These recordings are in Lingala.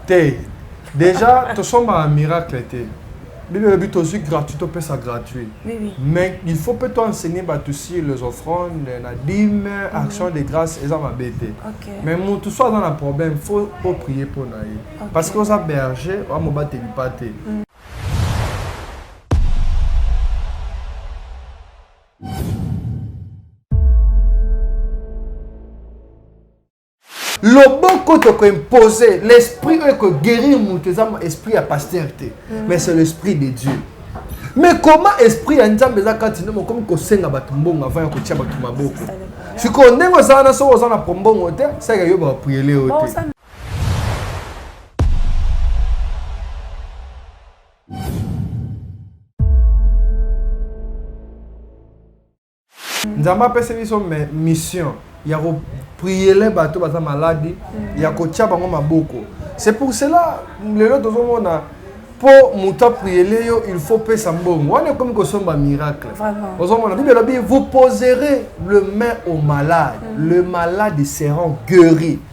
te déjà tosombaka miracle te bible elobi tozwi gratuit topesa gratuit mais il faut mpe to enseigner bato sur les offrandes na dime mhm. action de grâce eza mabe te mais motu so aza na problème faut oprie mpo na ye parce que oza berger oa mobateli mpa te mhm. loboko toko impose l'esprit oyo eko guérir moto eza esprit ya pasteur te mm. mais c'est l'esprit de dieu mais comment esprit ya nzambe eza kati nde mokomi kosenga bato mbongo avant ya kotia bato maboko sikoyo ndenge oza wana soki oza na pombongo te saka yo bapriele yo te Nzambe apesi biso mission ya ko priele bato baza maladi mm. ya kotya bango maboko c'est pour cela lelo tozomona mpo moto apriele yo il faut pesa mbongo wana ekomi kosomba miracle ozomona bible elobi vous poserez le main au malade mm. le malade seront guéri mm.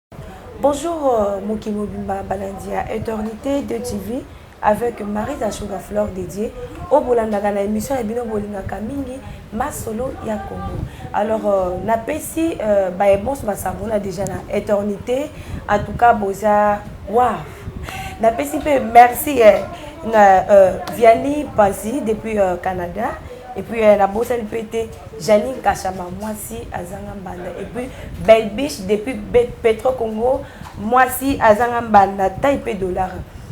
Bonjour euh, Moki Mobimba Balandia Eternité de TV avec Marie Dachoga Flore dédiée au bolandaka na émission ya bino bolingaka mingi masolo ya Congo. Alors euh, na pesi euh, ba ebonso ba savona déjà na Eternité en tout cas boza waouh. Na pesi pe merci eh, na euh, Vianney Pazi depuis euh, Canada et puis euh, na bosani pe te Jeanine kashama mwasi azanga mbanda et puis belle biche depuis petro congo mwasi azanga mbanda taille pe dollar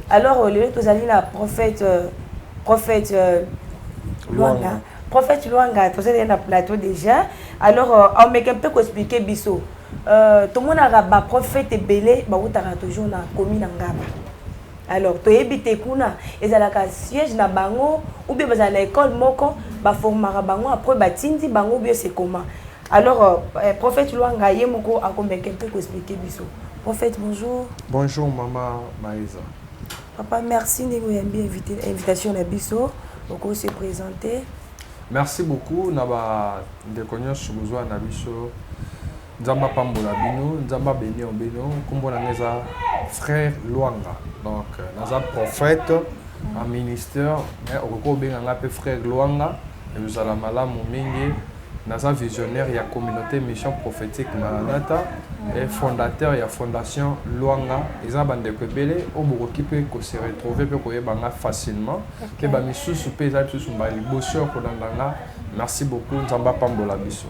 alors euh, lelo tozali na prophète euh, prophète euh, luanga prophète luanga tozali na plateau déjà alors aomeke mpe koexplike biso tomonaka baprophète ebele bautaka toujours na komi na ngaba Alors toyebi te kuna ezalaka siège na bango ou bien bazala na école moko ba formaka bango après batindi bango ou bien c'est comment alors euh, eh, prophète Luanga ye moko akomeke mpe ko expliquer biso prophète bonjour bonjour mama Maïsa papa merci ndenge oyambi invitation na biso okoki se présenter merci beaucoup na bandeko nyonso bozwa na biso Nzambe apambola bino, Nzambe abenir bino. Nkombo na ngai eza Frère Luanga, donc euh, naza prophète en ministère, mais okoki kobenga ngai mpe Frère Luanga, ekozala malamu mingi. Naza visionnaire ya communauté mission prophétique Maranatha et fondateur ya fondation Luanga. Eza bandeko ebele oyo bokoki mpe ko se retrouver mpe koyeba ngai facilement, mpe ba misusu mpe eza misusu mbala liboso ya kolanda ngai. Merci beaucoup, Nzambe apambola biso.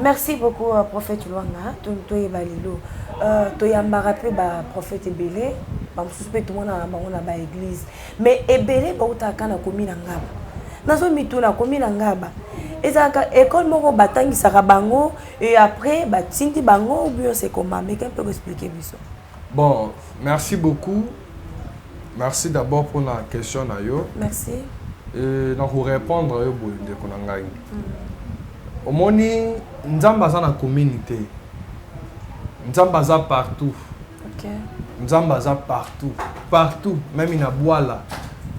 Merci beaucoup euh, prophète Luanga toyeba lelo euh, toyambaka mpe ba prophète ebele bamosusu mpe tomonaka bango na ba église mais ebele bautaka na komi na ngaba nazomituna komi na ngaba ezalaka école moko batangisaka bango et après batindi bango ou bien c'est comment meka mpe koexplike biso Bon merci beaucoup merci d'abord pona question na yo merci et na ko repondre yo boye ndeko na ngai omoni nzambe aza na commune te nzambe aza partout okay. nzambe aza partout partout meme na bwala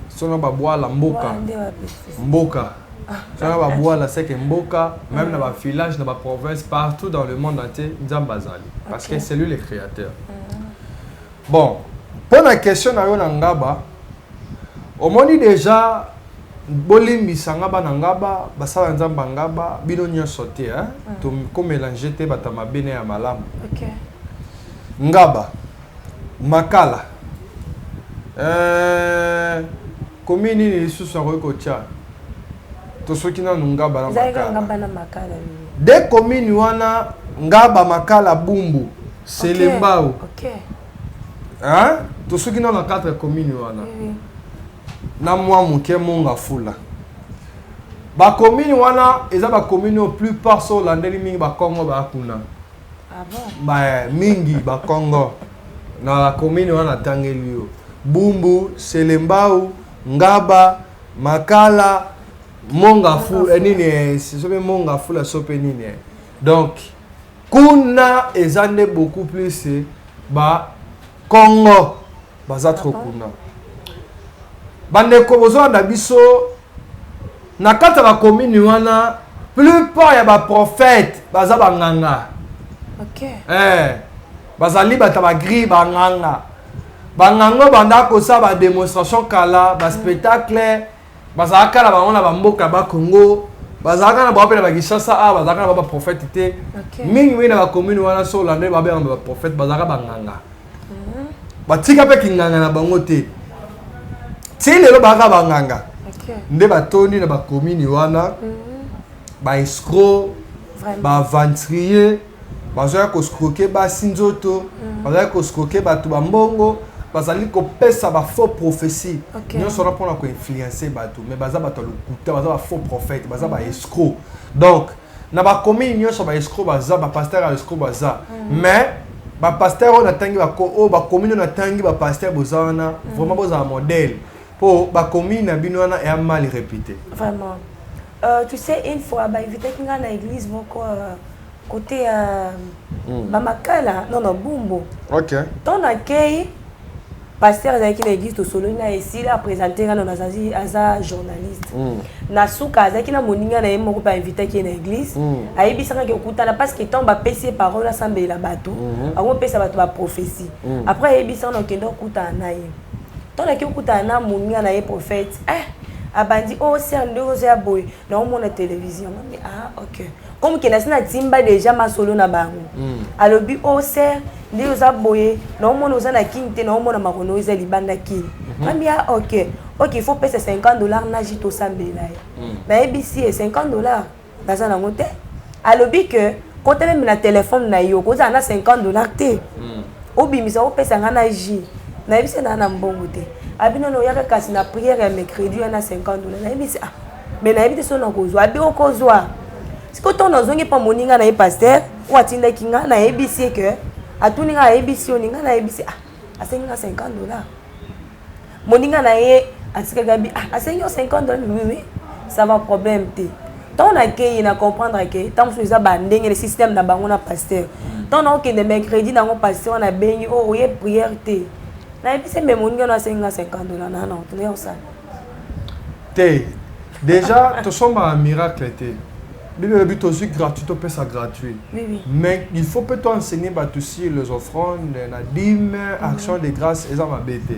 sono babwala mboka mboka Soki ba buala seke mboka meme na ba village na ba province partout dans le monde entier nzambe azali parce que c'est lui le créateur bon mpo na question na yo na ngaba omoni déjà bolimbisa nga bana ngaba basala nzambe ngaba bino nyonso te hein? Mm. tokomelange te bato ya mabe na ya malamu okay. ngaba Makala eeh commune nini lisusu nakoki kotia tosoki nanu ngaba na makala de commune wana ngaba makala bumbu selembao hein tosoki nanu na 4 commune wana na mwa moke monga fula ba commune wana eza ba commune oyo plus part soki olandeli mingi ba kongo baya kuna Ah bon? Ba mingi ba Kongo na ba commune wana tangeli yo. Bumbu, Selembao, Ngaba, Makala, Monga fou, eh, nini eh, sope Monga fou la sope nini. Eh. Donc kuna eza nde beaucoup plus eh, ba Kongo baza trop kuna bandeko bozolanda biso na kati ya bakomini wana plupart ya baprofete baza banganga okay. eh, bazali bata bagri banganga banganga banda kosala bademonstration kala baspectacle mm. Bazalaka kaka na bango na bamboka ba Congo, bazalaka na bango mpe na bakisasa awa, bazalaka na bango baprofete te mingi mingi na bakomune wana, so olande babengama baprofete, bazalaka banganga mhm. batika mpe kinganga na bango te ti lelo bazalaka banganga nde batondi na bakomune wana mhm. baescro baventurier bazoya ko scroquer basi nzoto mm. bazali ko scroquer bato ba mbongo bazali kopesa ba faux prophétie okay. nyonso wana mpona koinfluence bato mais baza bato ya lokuta baza ba faux prophète baza ba mm. escro donc na bakomini nyonso ba escro baza bapaster ya escro baza mm. mais bapaster oyo natangi oyo bakomini oyo natangi bapaster boza wana mm. vraiment bozala modèle Po ba commis na bino wana ya mal repute. Vraiment. Euh, tu sais une fois ba invitaki nga na église moko euh, côté euh, mm. ba makala non non bumbo. OK. Ton na kei pasteur azalaki na église tosololi na esila apresente nga nano azazi aza journaliste mm. na suka azalaki na moninga na ye moko mpe ainvitaki ye na église mm. ayebisaka ke okutana parce que ntango bapesi ye parole asambelela bato mm-hmm. akopesa bato baprophétie mm. après ayebisaka na okende okutana na ye Tant nake okutana na moninga na ye prophète eh abandi oh sœur ndenge oza ya boye na omona television mami ah ok comme ke nasi na timba dejà masolo na bango alobi oh sœur nde oza boye na omona oza na kin te na omona makono eza libanda kin mami ah ok ok il faut pesa 50 dollars naji tosambela ye nayebisi ye 50 dollars Naza nango te. Alobi que kota meme na telephone na yo kozala na 50 dollars te. Hmm. Obimisa opesa nga na jus. Nayebisi na na mbongo te. Abi nono oyaka kasi na prière ya mercredi ya na 50 dollars. Nayebisi ah. Mais nayebi te soki nakozwa. Abi okozwa. Siko to nazongi pa moninga na ye pasteur oyo atindaki nga nayebisi ye que atuni nga ayebisi yo ninga nayebisi ah. asengi nga 50 dollars moninga na ye atikaki abi ah, asengi yo 50 dollars oui oui ça va problème te ntango nakeyi na comprendre ke ntango mosusu eza bandenge le système na bango na pasteur ntango mm. naokende mercredi na yango pasteur wana abengi o oh, oye prière te nayebisi mbe moninga na asengi nga 50 dollars nana otoya osala te Dejà tosombaka miracle te. Bible elobi tozwi gratuit topesa gratuit. Oui, oui. Mais il faut peut toi enseigner bato sur les offrandes, na dîme, mhm. action de grâce eza mabe te.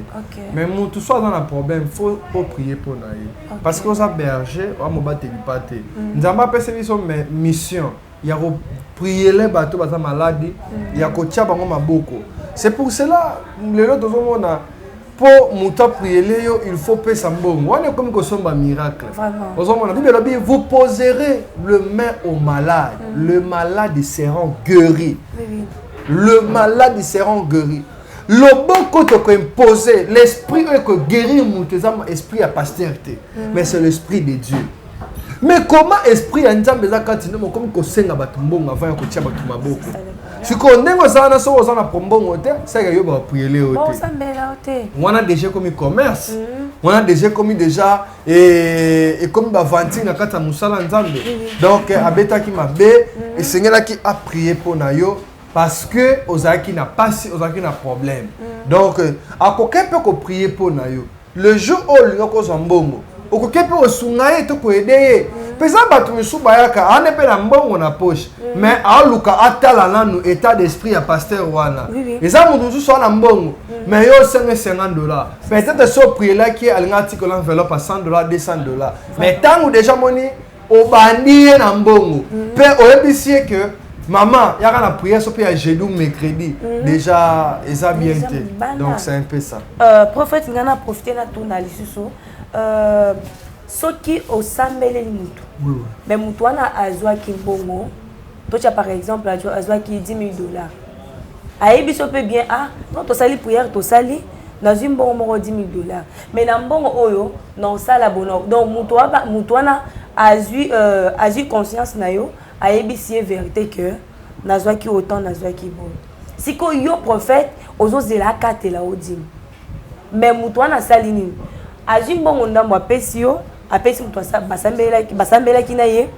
Mais moto so aza na problème faut o prier mpo na ye. Parce que oza berger oamobateli mpa te. Mhm. Nzambe apesi biso mission. ya ko priele bato baza maladi mm. ya kotya bango maboko c'est pour cela lelo tozomona mpo moto apriele yo il faut pesa mbongo wana ekomi kosomba miracle ozomona bible elobi vous poserez le main au malade mm. le malade seront guéri oui. le malade seront guéri loboko tokoimpose l'esprit oyo ekoguérir moto eza esprit ya pasteur te mm. mais c'est l'esprit de dieu mais comment esprit ya nzambe eza kati nde mokomi kosenga bato mbongo avant ya kotia bato maboko sikoyo ndenge oza wana soki oza na prombongo te seke yo bapriele yo te wana deja ekomi commerce mm. wana deja ekomi deja eh, ekomi bavantire na kati ya mosala nzambe mm. donc eh, abetaki mabe mm. esengelaki aprie mpo na yo parce que ozalaki na pasi ozalaki na problème donc eh, akokaki mpe koprie mpo na yo Le jour oyo olinga kozwa mbongo okoke mpe osunga ye to koede ye mpe eza bato misusu bayaka ane mpe na mbongo na poche mm. mais aluka atala nanu etat d'esprit ya pasteur wana eza moto mosusu ana mbongo mm. mais yo osenga 50 dollar peut-être so oprielaki ye alinga atikela enveloppe ya 100 dollar 200 dollar mais ntango deja moni obandi ye na mbongo mpe mm. oyebisi ye ke maman yaka na prière soki ya jeudi ou mercredi mm. déjà eza bien te donc c'est un peu ça euh, prophète ngai na profite natuna lisusu euh, soki osambeleli motu mais motu wana azwaki mbongo totya par exemple azwaki 10 000 dollars ayebi so mpe bien ah non tosali prière tosali nazwi mbongo moko 10 000 dollars Mais na mbongo oyo nao sala bono donc mutu aba mutu wana azui euh, azui conscience na yo ayebisi ye verite que nazwaki autant nazwaki bono siko yo prophète ozozela akatela o dime mais mutu wana asali nini azui mbongo ndambo apesi yo apesi mutu basambelaki basambelaki na ye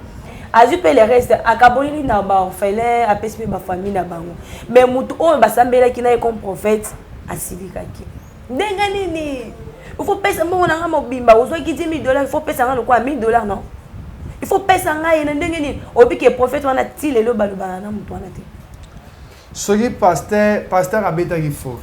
azwi mpe le reste akaboleli na baorphelin apesi mpe bafamille na bango mais motu oyo basambelaki na ye comme prophète asilikaki ndenge nini il faut pesa mbongo na nga mobimba ozwaki 10 000 dollars il faut pesa nga lokola 1000 dollars non il faut pesa nga ye na ndenge nini oyebi ke prophète wana ti lelo balobana na moto wana te soki pasteur pasteur abetaki fo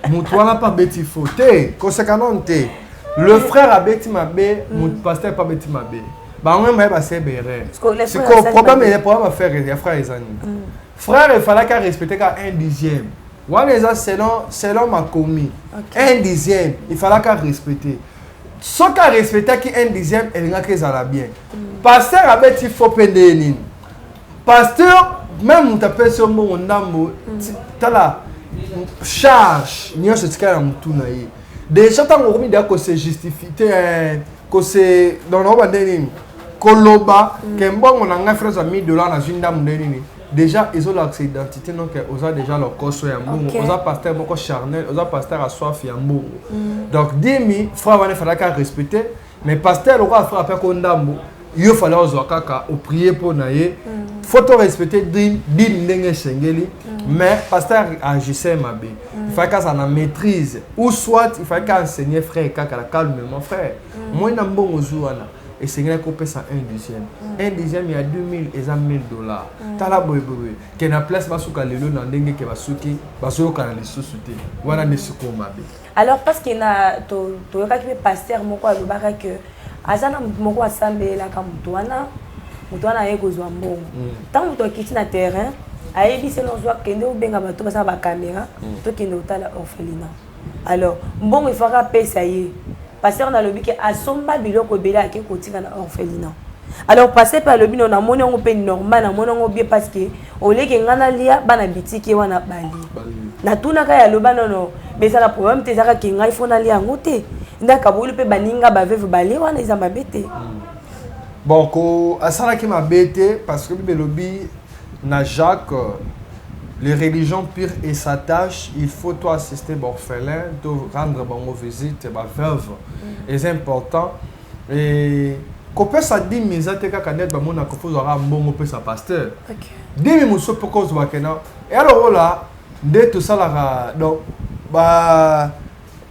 moto wana mpe abeti fo te kosekanone te le frère abeti mabe mm. pasteur mpe abeti mabe bango mema ye basebere sikoyo problème ya problème ya frère ya frère eza nini mm. frère efalaki arespecte kaka un dixième Wana eza selon selon makomi okay. un dixième il falaka respecter soki arespectaki un dixième elingaki ezala bien mm. pasteur abeti fo mpe ndeye nini pasteur meme moto apesi yo mbongo ndambo mm. tala charge nyonso etikala na motu na ye deja ntango okomi deya kose justifie te eh, kose donoko bande nini koloba mm. ke mbongo na ngai frasa 1000 dollar nazwi ndambo nde nini Dejà ezo lakisa identite no ke oza dejà lokoso ya mbongo okay. oza pasteur moko charnel oza pasteur aswafi ya mbongo mm. donc dimi frère wana efalaki arespecte mais pasteur lokola frère ape ko ndambo yo fale ozwa kaka oprie mpo na ye mm. faut to respecte dime ndenge esengeli mm. mais pasteur agissait mabe mm. il fallait kasa na maîtrise ou soit il fallait ka enseigner frère kaka la calmement frère moi na mbongo ozwi wana esengelaki kopesa un dixième mm. un dixième ya 2000 eza 1000 dollars mm. tala boyeboye ke na place basuka lelo na ndenge ke basuki bazoyokana lisusu te wana nde sikoyo mabe alors parce que na toyokaki mpe pasteur moko alobaka ke aza na motu moko asambelelaka motu wana motu wana aye kozwa mbongo ntango mm. motu akiti na terrain ayebisi nozwa kende obenga bato basala bakamera tokende kotala orphelina Alors mbongo il faut aka pesa ye pasteur na lobi ke asomba biloko ebele ake kotika na orphelina alors pasteur pe alobi no na moni yango pe normal na moni yango bien parce que oleke nga na lia bana bitike wana bali na tuna ka ya loba non non mais ça la problème te zaka ke nga il faut na lia yango te nda kabulu pe baninga ba veuve bali wana eza mabe te hmm. bon ko asalaki mabe te parce que bibelobi Na Jacques les religions pures et s'attachent il faut to assister ba orphelins to rendre bango visite ba veuves eza important et kopesa dime eza te kaka neti bamona kofi ozwa kaka mbongo opesa pasteur dime mosusu mpoka ozwaka na ealokola nde tosalaka donc ba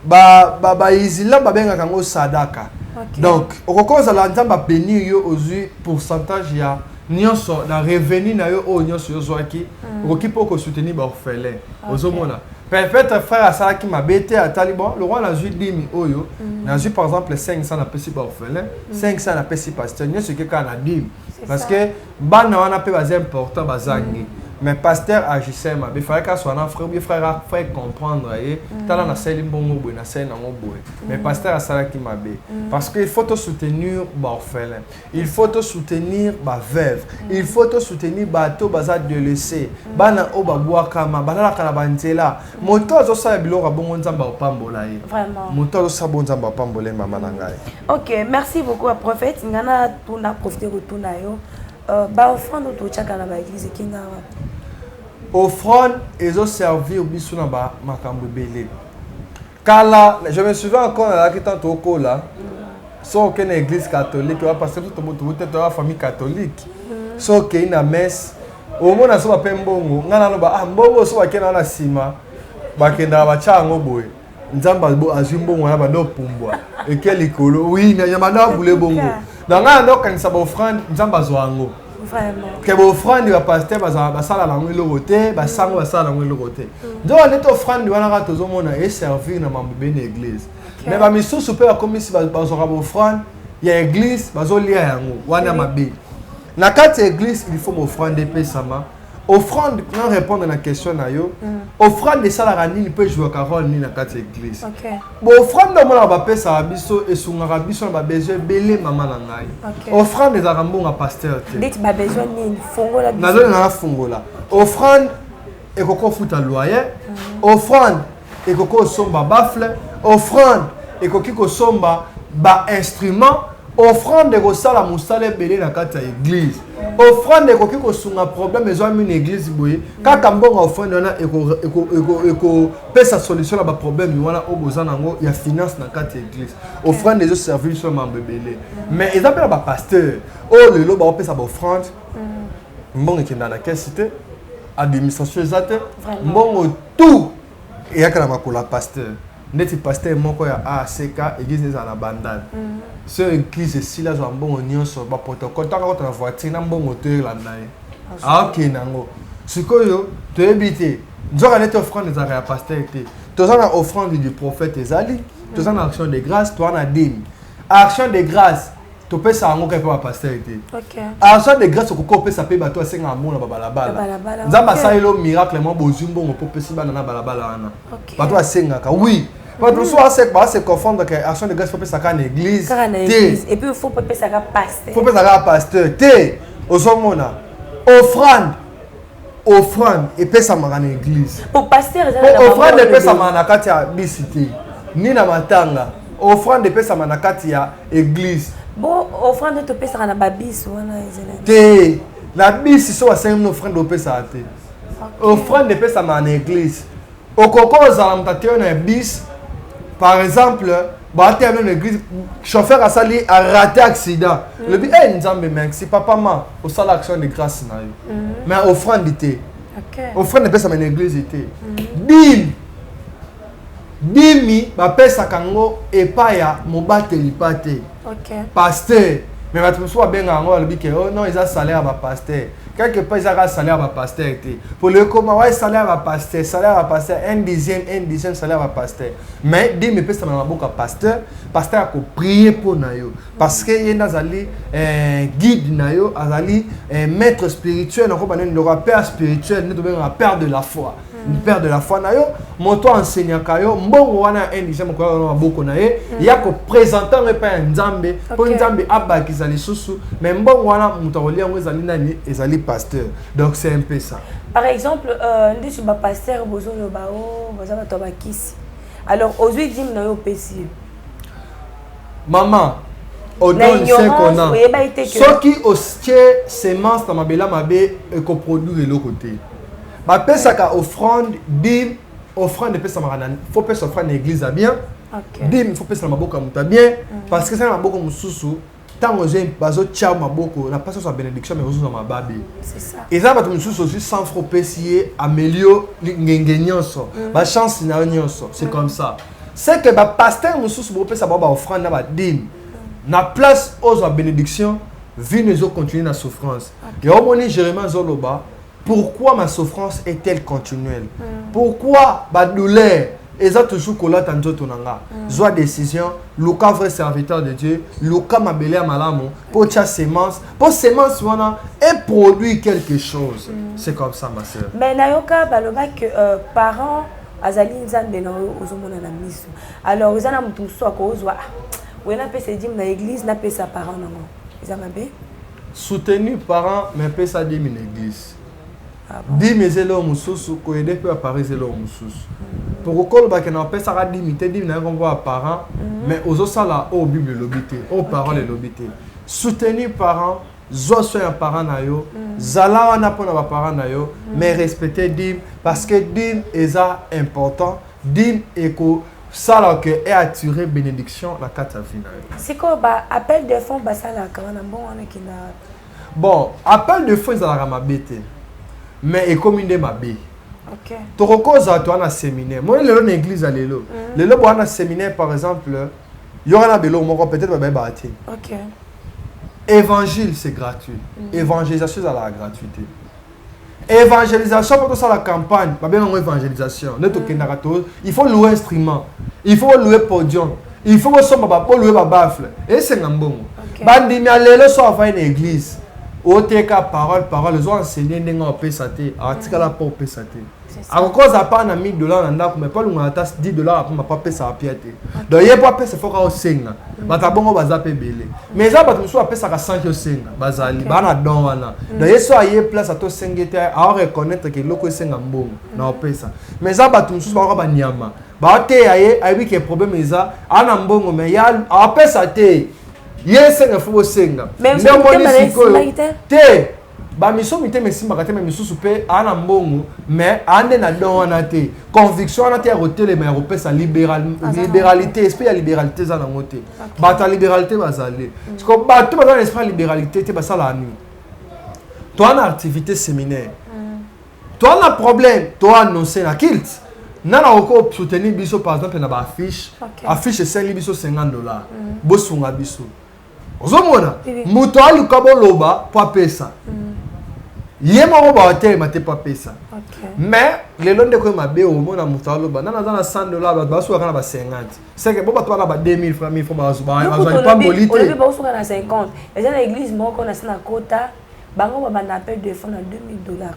ba ba ba isilam babengaka yango sadaka okay. donc okoki ozala nzambe abenir yo ozwi pourcentage ya nyonso na revenu na yo oyo nyonso yo ozwaki mm. okoki mpe okosoutenir baorphelin okay. ozomona peut-être frère asalaki mabe te atali bon lokola nazwi dimi oyo mm. nazwi par exemple 500 napesi baorphelin 500 mm. napesi pasteur nyonso eke kaka na dimi parce que Bana wana pe baza important bazangi. Mm. mais pasteur agissait mabe efalaki aswa na frère obi frère afai comprendre ye mm. tala nasali mbongo boye nasali nango boye mais mm. pasteur asalaki mabe mm. parce que il faut tosoutenir baorphelin il faut tosoutenir baveuve il faut tosoutenir bato baza delese bana oyo babwakama balalaka na banzela Moto oyo azosala biloko ya bongo Nzambe akopambola ye. Vraiment. Moto oyo azosala bongo Nzambe akopambola ye mama na ngai. Ok, merci beaucoup à prophète. Nga na tuna profiter kotuna yo. Euh, ba offrande oyo totyaka na ba église ekenga wapi? Offrande ezo servir biso na ba makambo ebele. Kala, je me souviens encore nazalaki tant tokola. So okende na église catholique, wa parce que tobo tobo te toya famille catholique. So okei na messe, omona soba pe mbongo nga naloba ah mbongo soba kena wana sima bakendaka batya yango boye nzambe azwi mbongo wana banda opumbwa eke likolo wi na banda abule bongo na ngai yanda okanisa baofrande nzambe azwa yango ke baofrande bapaster basala nango eloko te basango basala nango eloko te mm. nzoka ndeti ofrande wana kaka tozomona eservir na mambo be na eglise me bamisusu mpe bakomisi bazwaka baofrande ya eglise bazolia yango wana mabe na kati ya eglise il faut bofrande epesama offrande na répondre na question na yo mm. offrande esalaka nini mpe ejouaka role nini na kati ya église baoffrande omonaka bapesaka biso esungaka biso na babesoin ebele mama na ngai offrande ezalaka mbonga pasteur te nazolingaka fungola offrande ekoko futa loyer offrande ekoki osomba bafle offrande ekoki kosomba bainstrument offrande ekosala mosala ebele na kati ya eglize offrande ekoki kosunga problème ezwami na eglize boye kaka mbongo ya offrande wana ekopesa solution na baproblème wana oyo boza nango ya finance na kati ya eglize offrande ezoservir biso na mambo ebele mais eza mpe na bapasteur oyo lelo baopesa baoffrande mbongo ekendaka na kesi te administration eza te mbongo tout eyaka na makolo ya pasteur ndeti pasteur moko ya ACK église ezala na bandal mm. so église esili azwa mbongo nyonso baprotocole ntango akota na voiture na mbongo to elanda ye aokende yango sikoyo toyebi te nzoka neti offrande ezalaka ya pasteur te toza na offrande du prophète ezali toza na action de grâce toza na demi action de grâce topesa yango kaka mpe bapastere te argent de grâce okoki kopesa mpe bato asengaka mbongo na babalabala nzambe asaleli yo miracle mwa bozwi mbongo mpo opesi bana na balabala wana bato asengaka oui bato mosusu base confondre ke argent de grâce fopesaka na église te fopesaka pasteur te ozomona offrande Offrande epesamaka na eglise. Po pasteur eza na offrande epesamaka na kati ya bisi te. Ni na matanga. Offrande epesamaka na kati ya eglise. Bo offrande topesaka na babisi wana ezela. Te. Na bisi so asengi na offrande opesaka te. Offrande epesamaka na eglise. Okoki kozala moto ateyo na bis par exemple bateya no na église chauffeur asali arate accident mm. lobi e eh, nzambe merci papa ma osala action de grâce na yo mm. mais offrande te offrande epesama na église te mm. dime dimi bapesaka yango epai ya mobateli pa te okay. pasteur mais bato mosusu babenga yango balobi ke oh non eza salaire ya bapasteur quelque part eza kaka salaire ya bapasteur te mpo lelo ekoma waye salaire ya bapasteur salaire ya bapasteur un dixième un dixième salaire ya bapasteur mais dime epesama na maboko ya pasteur pasteur akoprie mpo na yo parce que ye nde azali eh, guide na yo azali eh, maître spirituel nakoba nini loko ya père spirituel nde tobengaka père de la foi Mm. père de la foi na yo moto aenseignaka yo mbongo wana ya indigène mokoya wana maboko na ye mm. ya kopresente yango epai ya nzambe mpo okay. nzambe abakisa lisusu mais mbongo wana moto akolia yango ezali nani ezali pasteur donc c'est un peu ça par exemple euh, ndisu bapasteur bozoloba o oh, baza bato ya bakisi alors ozwi dime na yo opesi ye mama odonne ce qu'on a soki otie semence na mabela mabe ekoproduire eloko te bapesaka offrande dime offrande epesamaka na faut pesa offrande na église ya bien okay. dime faut pesa na maboko ya moto ya bien mm. parce que eza na maboko mosusu ntango bazotya maboko na mpasi ozwa bénédiction mais ozozwa mababe eza na bato mosusu ozwi sans fro opesi ye amelio ngenge nyonso mm. bachance na yo nyonso c'est mm. comme ça c'est que bapaster mosusu bopesa bango baoffrande na badime mm. na place ozwa bénédiction vino ezocontinue na souffrance yango omoni jérémie azoloba Pourquoi ma souffrance est elle continuelle mm. Pourquoi ba douleur eza toujours kolata nzoto na nga mm. zwa décision luka vrai serviteur de Dieu luka mabele ya malamu po tia semence po semence wana e produit quelque chose mm. c'est comme ça ma sœur mais nayoka baloba que euh, parents azali nzambe na oyo ozomona na miso alors eza na moto mosusu akozwa ah, oye napesa edime na église napesa parent nango eza mabe Soutenir parents mais pesa demi na eglise. Dimi eza eloko mosusu koyede mpe bapara eza eloko mosusu poko kolobake na opesaka dimi te dimi na yango mpo baparent mhm. mais ozosala oyo bible elobi te oyo parole elobi te soutenir parent zwa soin ya parent na yo mhm. zala wana mpo na baparent na yo mhm. mais respecte dime parce que dime eza important dime eko Sala que e attirer benediction na kati ya vie na yo. Sikoyo ba appel de fonds basalaka wana mbongo wana ekenda wapi? Bon, appel de fonds ezalaka mabe te mais ekomi nde mabe. Okay. tokokozala toa na séminaire moi lelo na église ya lelo mm. lelo boa na séminaire par exemple yoka na beloko moko peut-être babayebaka te okay. évangile c'est gratuit mm. évangélisation ezalaka gratuité evangelisation mpo tosala campagne babenga yango evangelisation nde tokendaka to il faut loue instrument il faut loue podium il faut bosomba boloue babafle esenga mbongo bandimi ya lelo so avai na église oteka parole parole ozo enseigner ndenge opesa te atikala mpo opesa te akokoza pa na 1000 dollars na ndako mais palunga ata 10 dollars apema pa pesa apia te donc ye po apesa foka osenga mm. bato ya bongo baza mpe ebele mais eza bato mosusu apesaka sanki osenga bazali baa na don wana mm. donc ye so aye place ata osenge te aoreconnaitre ke eloko esenga mbongo mm. na opesa mais eza bato mosusu bakoka banyama baoteya ye ayebi ke problème eza ana mbongo mais ya apesa te ye esenga fo bosenga nde omoni sikoyo te Ba miso mitema esimbaka te mais misusu pe a na mbongo mais a nde na don wana te conviction wana te ya kotelema ya kopesa liberal liberalité esprit ya liberalité eza nango te bato ya liberalité bazali mm. siko bato baza na esprit ya liberalité te basalaka nini toa na activité séminaire mm. toa na problème toa annonce na kilte nana oko soutenir biso par exemple na ba affiche affiche esali biso 50 dollars mm. bosunga biso ozomona moto aluka boloba mpo apesa mm. ye moko baotelema te mpo apesa mais lelo ndeko ye mabe omona moto aloba nana aza na 100 dollar bato basukaka na ba 50 seke bo bato baka ba 2000 franc 1000 franc bazwali pamboli te olobi baosuka na 50 eza na église moko na se na kota bango babanda appel de fond na 2000 dollars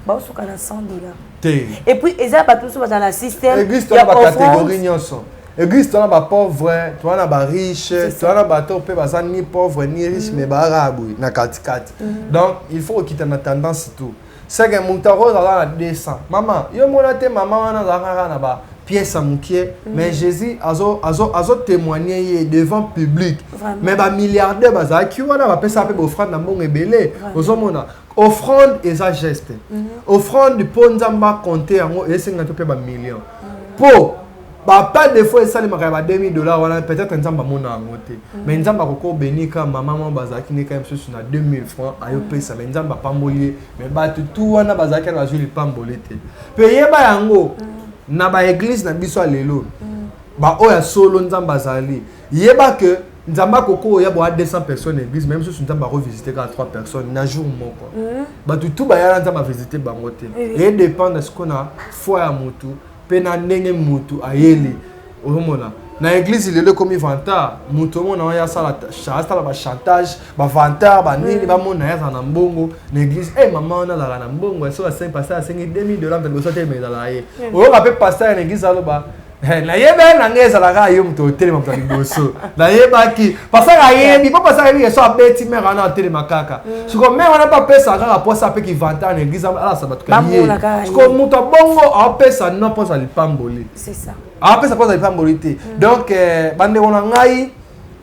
baosuka na 100 dollars te et puis eza bato mosusu bazala na système église tona bacatégorie nyonso église tona bapauvre tona na bariche tona na bato mpe baza ni pauvre ni riche mm. mais baraa boye na katikati mm. donc il faut kokita na tendance tout seke moto akoki azala na 200 mama yo mona te mama wana azalaka kaka na ba pièce ya mokie mm. mais jésus azotémoigne azo, azo ye devant public Vraiment. mais bamilliardaire bazalaki wana bapesaka mpe bofrande na mbongo ebele ozomona Offrande eza geste. Offrande po Nzambe a compter yango esenga to pe ba millions. Po ba pas de fois esalemaka ya ba 2000 dollars wana peut-être Nzambe amona yango te. Mais Nzambe akoko bénir ka maman moko bazalaki nde ka misusu na 2000 francs ayo pesa mais Nzambe apamboli ye mais batu tout wana bazalaki na bazui lipamboli te. Pe yeba yango na ba eglise na biso ya lelo ba oyo ya solo Nzambe azali Yeba que nzambe akoko oya boya 200 personnes na église meme susu nzambe akovisite kaka 3 personnes na jour moko mhm. bato tu bayala nzambe avisite bango te eye dépendre siko na foi ya motu mpe na ndenge motu ayeli ozomona na église lelo ekomi vantard motu omona oyo asala asala bachantage bavantard banini mhm. bamona ye azala na mbongo na église e eh, mama wana azalaka na mbongo soki asengi pasteur asengi 2000 dollar mpe liboso te emezala ye oyoka mpe pasteur na église aloba Eh, nayebaki na ngai ezalaka kaka yo moto otelema moto ya liboso nayebaki pasaka ayebi mpo pasaka ayebi yeso abeti mare wana atelema kaka mm. siko mare wana mpe apesaka kaka mposa mpe kivanta na eglise alasa bato kaye siko moto abongo aopesa no mposa lipamboli aopesa mposa lipamboli te mm. donc eh, bandeko na ngai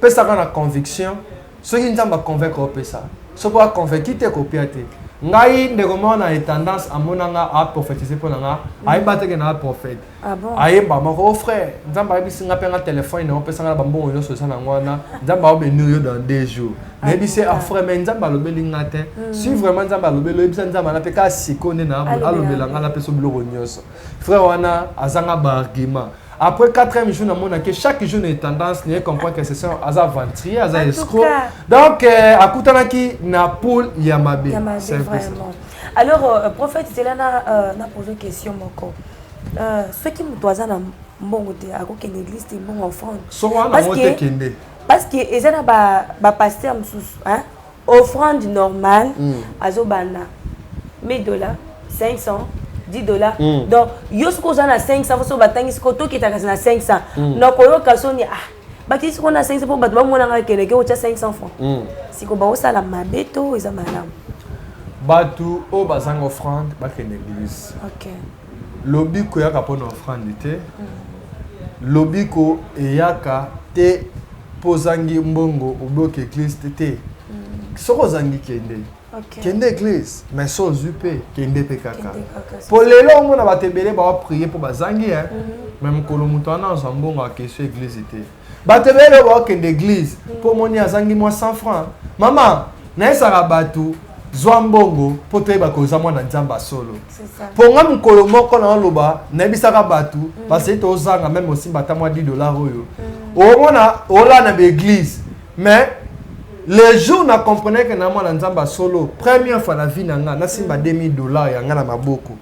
pesaka na conviction soki nzambe aconvaincre opesa soki aconvaincu te kopia te ngai ndeko moko na etendance amonanga aprofetise mpo na nga mm. ayeba teke na aprofete Ah bon? ayemba moko oh frère nzambe ayebisi nga mpe nga telefone na yo opesa nga na bambongo nyonso eza nango wana nzambe aobenir yo dans deux jours ah, nayebisi ye afre ah, mais nzambe alobeli nga te hmm. si vraiment nzambe alobeli oyebisa nzambe ana mpe kaka siko nde na alobela nga napesa biloko nyonso frère wana azanga baargument après quatrième jour namonaki chaque jour na tendance naye comprendre que session aza aventurier aza escro donc euh, akutanaki na poule ya mabe alors euh, prophète zela na euh, poser question moko soki moto aza na mbongo te akokende église te mbongo offrande soki wana yango te kende parce que eza na ba ba pasteur mosusu hein offrande normale mm. azobanda 1000 dollars 500 10 dollars mm. donc yo soki oza na 500 foso batangisi ko tokitaka na 500 mm. nakoyoka soni ah bakisi sikoyo na 500 mpo bato bamona ngai keleke otya 500 franc hmm. siko baosala mabe to eza malamu bato oyo bazanga offrande bakende eglise lobi koyaka mpo na offrande te hmm. lobi ko eyaka te mpo ozangi mbongo obloke eglise te hmm. soki ozangi kende okay. kende église mais so ozwi mpe kende mpe kaka mpo lelo omona bato ebele baoprie mpo bazangi e me mokolo moto wana azwa mbongo akesi église te bato ebele lelo baokende église mpo mhm. omoni azangi mwa 100 franc mama nayesaka bato zwa mbongo mpo toyeba koza mwana nzambe ya solo mpo ngai mokolo moko naoloba nayebisaka bato mhm. basei tozanga meme osimba ata mwa 10 dollar oyo mhm. omona olaa na baeglise Mais le jour na comprenais que na mwana nzambe solo première fois na vie na nga nasimba 2000 dollars ya nga na maboko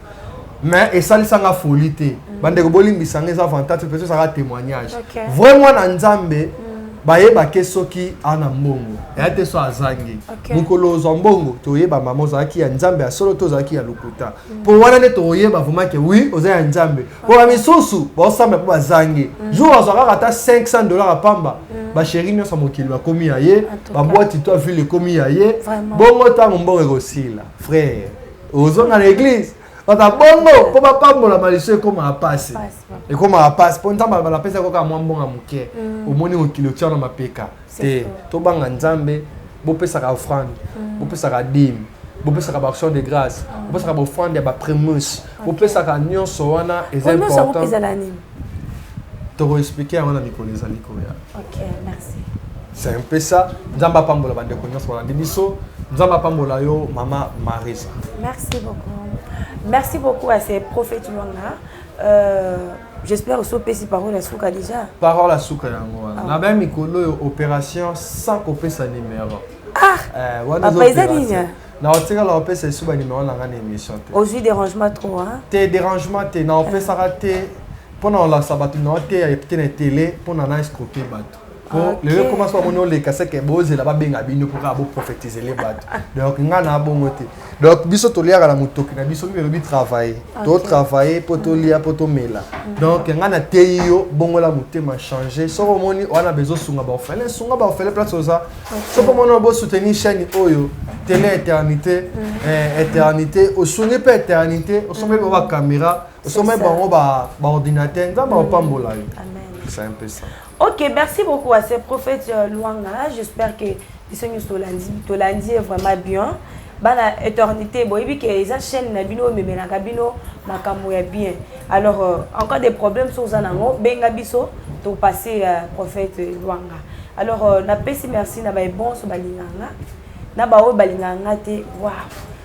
mais esalisa nga folie te mm. bandeko bolimbisa nga eza avantage mpe ezalaka témoignage vrai mwana nzambe mm. bayebake soki ana mbongo eya te so azangi mokolo ozwa mbongo toyeba mama ozalaki ya nzambe ya solo to ozalaki ya lokuta mpo wana nde tokoyeba vraimen ke wi oza ya nzambe mpo bamisusu baosambela mpo bazangi mm. jour azwa kaka ata 500 dollar ya pamba mm. basheri nyonso ya mokili bakomi ya ye babwati to ville ekomi ya ye bongo ntango mbongo ekosila frère ozonga na église bata bongo mpo bapambola maliso ekomaka mpasi ekomaka mpasi mpo nzambe alobala apesa koka mwa mbongo ya moke mm. omoni mokili otia na mapeka te tobanga nzambe bopesaka offrande mm. bopesaka dime bopesaka baaction de grâce mm. bopesaka baoffrande ya baprimus bopesaka nyonso wana eza important tokoexplike yango na mikolo ezali koya c'est un peu ça nzambe apambola bandeko nyonso balandi biso nzambe apambola yo mama marisa merci beaucoup merci beaucoup à ces prophètes lwanga euh... J'espère osi opesi parole ya suka deja. Parole ya suka yango wana. Na ba mikolo oyo operation sans kopesa numéro. Ah! Eh, wana papa eza nini? Na otikala opesa esu ba numéro na ngai na émission te. Ozwi dérangement trop hein? Te dérangement te na opesaka te mpo na olakisa bato na oteya epte na tele mpo na na escroke bato. po lelo ekoma so amoni oleka seke bozela babenga bino mpo kaka boprofetizele bato donc ngai na bongo te donc biso toliaka na motoki na biso mpe elobi travaille totravaille mpo tolia mpo tomela mm. donc ngai nateyi yo bongola motema change soki omoni wana bezosunga baofele sunga baofele place oza soki omoni bosoutenir chaîne oyo tele éternité mm. eh, éternité osungi mpe éternité osombi mm. bango bacaméra osombi bango baordinateur nzambe apambola yo c'est un peu ça Ok, merci beaucoup à ce prophète euh, Luanga. J'espère que biso nyonso tolandi tolandi ye vraiment bien. Bana éternité boyebi ke eza chaîne na bino omemelaka bino makambo ya bien. Alors euh, en cas de problème so oza nango benga biso to passer euh, prophète Luanga. Alors euh, napesi merci na baye bonso balinganga na baoyo balinganga te. Waouh.